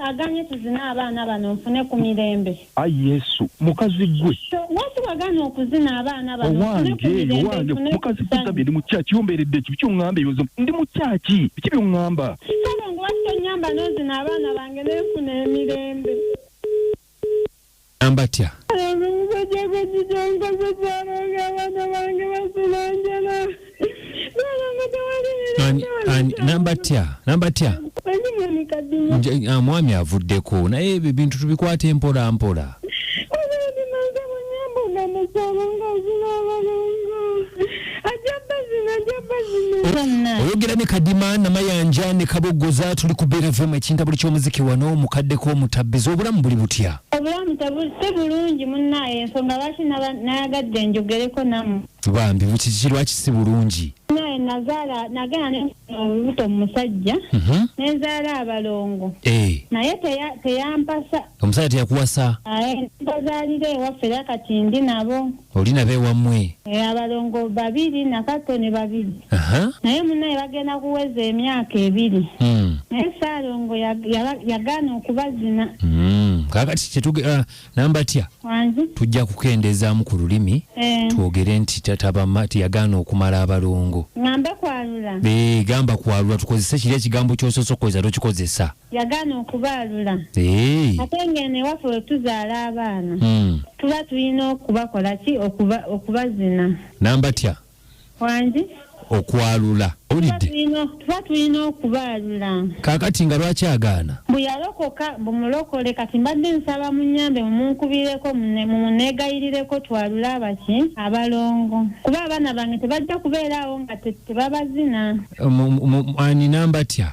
aganye tuzine abaana bano nfune ku mirembe ayi yesu mukazi gwe lwaki wagana okuzina abaana banowange mukazi gwe gambye ndi mukyaki ombeeredde ki biki oŋŋamba ebibuzo ndi mukyaki biki byoŋŋamba kale ngu lwaki tonyamba nozina abaana bange nenfuna emirembe ambatya namba tya namba tya ah, mwami avuddeko naye ebyo bintu tubikwata empola mpola oyogera ne kadima namayanja ne kabogoza tuli ku beera fm ekinta buli kyomuziki wano mukaddeko omutabbiza obulamu buli butya obulamu si bulungi munaye ensonga lwaki nayagadde njogereko namu bambi bukiki lwaki si bulungi naye nazaala nagenda neolubuto mumusajja mhm. nenzaala abalongo eh. naye teyampasa omusajja teyakuwasa mpazaalira ewaffe era kati ndi nabo Oli nabo ewamwe. Eh, abalongo babiri nakato ne babiri naye munaye bagenda kuweza emyaka ebiri hmm. naye saalongo yagaana okubazina hmm. kakati kyetuge ah, namba tya tujja kukendezaamu ku lulimi eh. twogere nti tatabama tiyagaana okumala abalongo ngambe kwalula eh, gamba kwalula tukozese kiri ekigambo kyososokoza tokikozesa yagaana okubaalula Eeii. ate ng'eno ewaffe bwe tuzaala abaana Mm. tuba tulina okubakola ki okuba- okubazina Nambatya wangi okwalula. tuba Owulidde? tulina- tuba tulina okubaalula Kaakati nga lwaki agaana? mbu yalokoka mbu mulokole kati mbadde nsaba munyambe mumunkubireko mune- mumuneegayirireko twalule abaki abalongo kuba abaana bange tebajja kubeeraawo nga te- tebabazina Mu- mu- mu- Ani nambatya?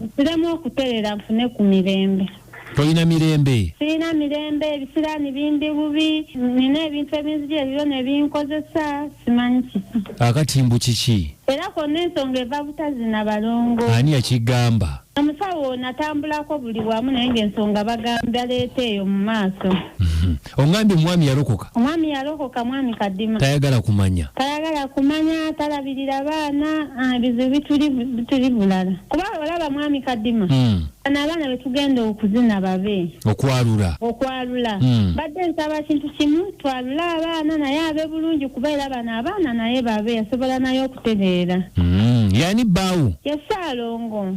Nsiremu okuterera nfune ku mirembe. Tolina mirembe? Sirina mirembe, ebisiraani bindi bubi, nina ebintu ebinzija ebibyo ne binkozesa simanyi kiki. Akati mbu kiki? Era kwonna ensonga eva butazi na balongo. Ani yakigamba? Omusawo natambulako buli wamu naye ng'ensonga bagambye baleeta eyo mu maaso. Ongambye omwami yalokoka. Omwami yalokoka mwami kadima. Tayagala kumanya. Tayagala kumanya talabirira baana ah, ebizibu bituli bituli bulala. Kuba olaba mwami kadima. Mm. Ana abaana betugenda okuzina babe. Okwalula. Okwalula. Mm. Badde nsaba kintu kimu twalula abaana naye abe bulungi kuba era bana abaana naye babe asobola naye okutegeera. Mm. Yani baawo. Yesaalongo.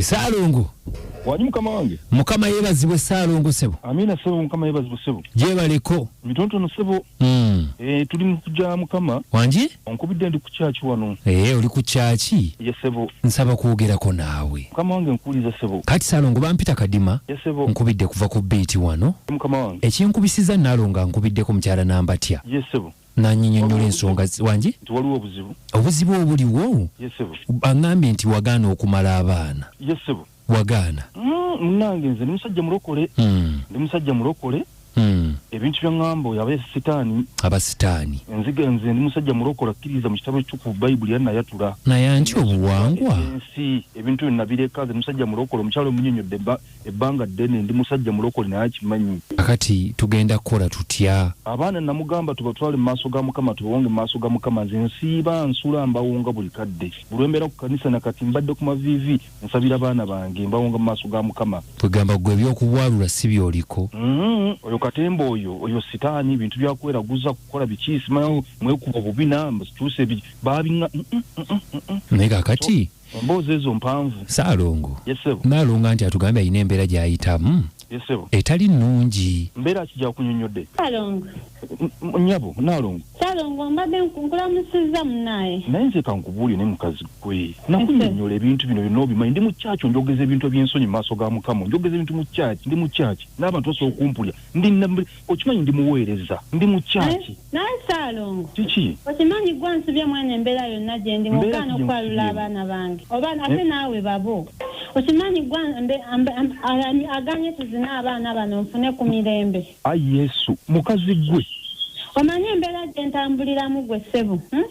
esaalongo wanyi mukama wange mukama yebazibwe esaalongo sebo amina sebo mukama yebazibwe sebo gyebaleko mitonotono sebo mm. e, tuli mukuja mukama wangi onkubidde ndi ku kyaki wano ee eh, oli ku kyaki ye sebo nsaba kwogerako naawe mukama wange nkuwuliza sebo kati salongo bampita kadima ye sebo nkubidde kuva ku biiti wano mukama wange ekinkubisiza nalonga nkubiddeko mukyala nambatya ye sebo nanyinyonyola ensonga wangi nti waliwo obuzibu obuzibu obuliwo ye sebo aŋambye nti wagaana okumala abaana ye sebo wagaana. Uhmm munange nze ndi musajja mulokole uhmm ndi musajja mulokole uhmm ebintu byangamba oyo abaye sitaani aba sitaani nziga nze ndi musajja mulokole akkiriza mu kitabo ekitukuvu bayibuli era nayatula naye anti obuwangwa ensi ebintu byo nabireka nze musajja mulokole omukyalo omunyonyodde ebbanga ddene ndi musajja mulokole naye akimanyi akati tugenda kukola tutya abaana namugamba tubatwale mu maaso ga mukama tubawonge mu maaso ga mukama nze nsiiba nsula mbawonga buli kadde bulwembeera ku kanisa nakati mbadde ku maviivi nsabira baana bange mbawonga mu maaso ga mukama kwegamba gwe ebyokubwalula si byoliko mm-hmm. oyo katemba oyo oyo sitaani ebintu byakweraguza kukola biki simanyi mwekuba obubina mbituuse babina mm, mm, mm, naye kakati emboozi ezo mpanvu saalongo naalonga nti atugambye alina embeera gyayitamu etali nnungi mbeera kijja kunyonyodde alongo nyabo nalongo salongo mbadde nkulamusizza munaaye naye nze kankubuulye ne mukazi gwe nakunyonyola ebintu bino byonna obimanyi ndi mu kyaki onjogeza ebintu ebyensonyi mu maaso ga mukama onjogeza ebintu mu kyaki ndi mu kyaki n'abantu basobola okumpulya ndi okimanyi ndi muweereza ndi mu kyaki naye saalongo kiki okimanyi gwa nsubye mwene embeera yonna gyendi mugaana okwalula abaana bange oba eh? ate naawe babo okimanyi gwa aganye tuzina abaana bano nfune ku mirembe ayi yesu mukazi gwe omanyi embeera gye ntambuliramu gwe ssebo hmm?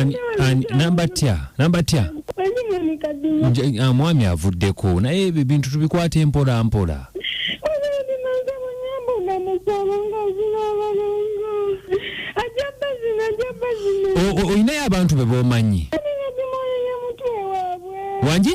Ani- ani- namba tya namba tya Nja- ah, mwami avuddeko naye ebyo ebintu tubikwata empola mpola O- o- olinayo abantu be bomanyi Wangi?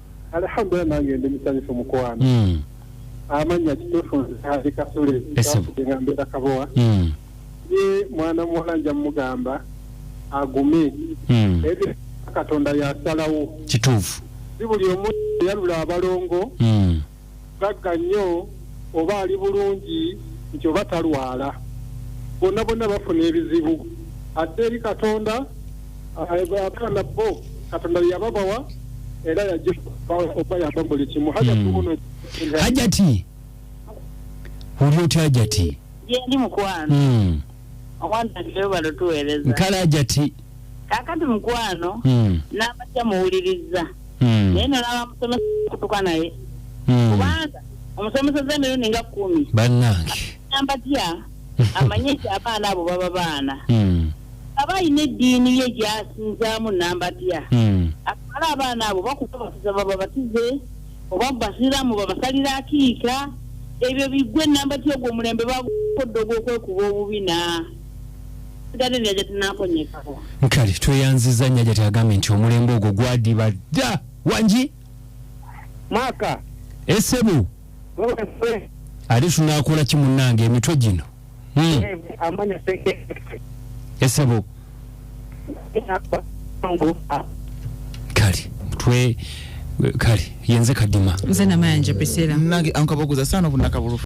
Alhamdulillah nange ndi musanyufu mukwano. Mm. Amanya kitufu nzali kasule. Esabu. Ngambye kabowa. Mm. Ye mwana mwana nja mugamba agume. Mm. Ebe katonda ya salawo. Kitufu. Sibuli omuntu yalula abalongo. Mm. gagga nnyo oba ali bulungi nti oba talwala bonna bonna bafuna ebizibu atte eri katonda abaana bo katonda yababawa era yaoba yaba buli kimu hajationo hmm. hajati oli otya hajati yendi mukwano hmm. omwana newebalo tuwereza nkala hajati kakati mukwano mm, n'amatya muwulirizza mm, naye nolaba musomesa kutuka naye mm. kubanga omusomesa z'emirundi nga kkumi bannange ambatya amanye nti abaana abo baba baana Mm, aba alina eddiini ye gyasinzaamu nambatya mm, atwala abaana abo bakubabatiza bababatize oba basiramu babasalira akiika ebyo bigwe nambatya ogwo omulembe bagukodde ogwokwekuba obubina kale tweyanziza nnyo ajati agambye nti omulembe ogwo gwadiba dda wangi maka esebu ate tunakola ki munnange emitwe gino hmm. esebu kale mutwe kale yenze kadima nze namayanja pesera nange ankaboguza sana obunakabulufu